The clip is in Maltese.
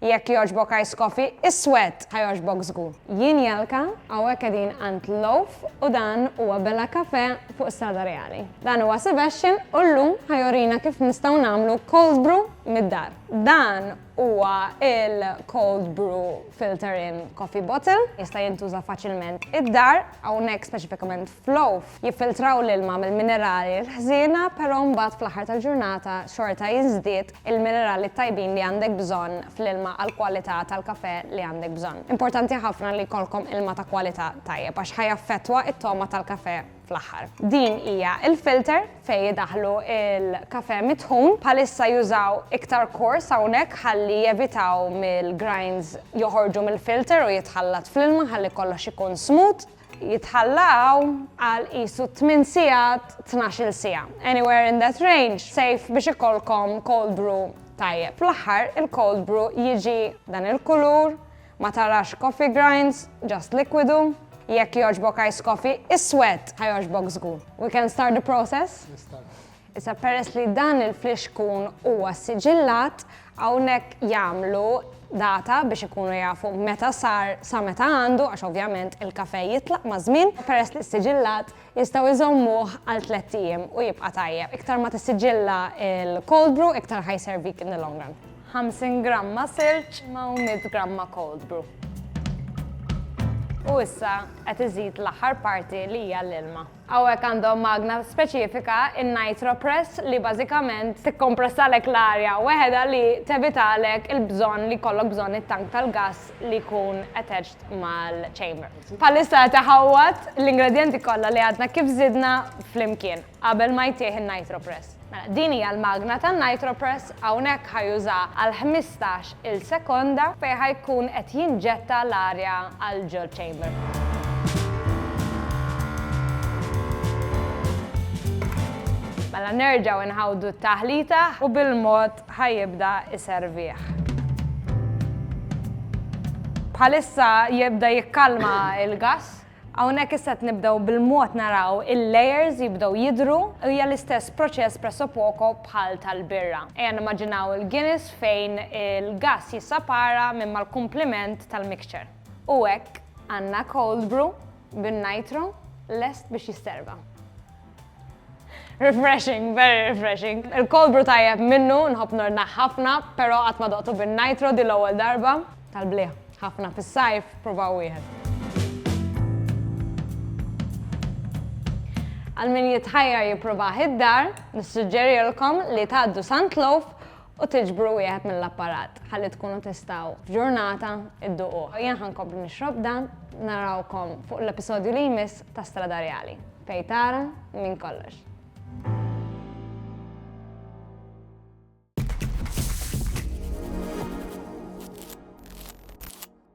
Jekk jogħġbok ice coffee iswed ħa jogħġbok żgur. Jien Jelka, hawnhekk qegħdin għand Loaf u dan huwa Bella Cafe fuq Strada Reali. Dan huwa Sebastian u llum ħa jorina kif nistgħu nagħmlu cold brew mid-dar. Dan huwa il-cold brew filter in coffee bottle, jista' jintuża faċilment id-dar, hawnhekk speċifikament f'Loaf jiffiltraw l-ilma mill-minerali l-ħżiena però mbagħad fl-aħħar tal-ġurnata xorta jiżdied il-minerali t-tajbin li għandek bżonn fl-ilma għall-kwalità tal-kafè li għandek bżonn. Importanti ħafna li jkollkom ilma ta' kwalità tajjeb għax ħa jaffettwa t-togħma tal-kafè fl-aħħar. Din hija l-filter fejn idaħħlu l-kafè mitħun. Bħalissa jużaw iktar kors hawnhekk ħalli jevitaw mill-grinds joħorġu mill-filter u jitħallat fl-ilma ħalli kollox ikun smooth. jitħallew għal qisu tmien sigħat, tnax-il siegħa, anywhere in that range, safe biex ikollkom cold brew tajjeb. Fl-aħħar, il-cold brew jiġi dan il-kulur, ma tarax coffee grinds, just likwidu. Jekk jogħġbok ice coffee iswed, ħa jogħġbok żgur. We can start the process? Issa peress li dan il-flixkun huwa ssiġillat, hawnhekk jagħmlu data biex ikunu jafu meta sar sa meta għandu għax ovvjament il-kafè jitlaq maż-żmien, peress li ssiġillat jistgħu jżommuh għal tlett ijiem u jibqa' tajjeb. Iktar ma tissiġilla l-cold brew iktar ħa jservik in the long run. 50 gramma silġ ma' u 100 gramma cold brew. U issa qed iżid l-aħħar parti li hija l-ilma. Hawnhekk għandhom magna speċifika, in-NitroPress, li bażikament tikkompressalek l-arja weħedha li tevitalek il-bżonn li jkollok bżonn it-tank tal-gass li jkun attached mal-chamber. Bħalissa qed iħawwad l-ingredjenti kollha li għadna kif żidna flimkien qabel ma jtih in-NitroPress. Mela, din hija l-magna tan-nitropress, hawnhekk ħa jużaha għal ħmistax il sekonda fejn ħa jkun qed jinġetta l-arja għal ġo ċ-chamber. Mela nerġgħu nħawdu t-taħlita u bil-mod ħajibda iservih. Bħalissa jibda jikkalma il-gas Hawnhekk issa qed nibdew bil-mod naraw il-layers jibdew jidhru u hija l-istess proċess pressopoko bħal tal-birra. Ejja nimmaġinaw il-Guinness fejn il-gass jissapara minn mal-kumpliment tal-mixture. U hekk għandna cold brew bin-nitro lest biex jisserva. Refreshing, very refreshing. Il-cold brew tajjeb minnu, nħobb nordna ħafna, pero qatt ma doqtu bin-nitro di l-ewwel darba. Tal-bliħ, ħafna fis-sajf, provaw wieħed. Għal min jitħajjar jipprova id-dar, nissuġġerilkom li tgħaddu Sant Loaf u tiġbru wieħed mill-apparat ħalli tkunu tistgħu f'ġurnata dduquh. Jien ħa nkompli nixrob dan, narawkom fuq l-episodju li jmiss ta' Stradarjali, fejn tara minn kollox.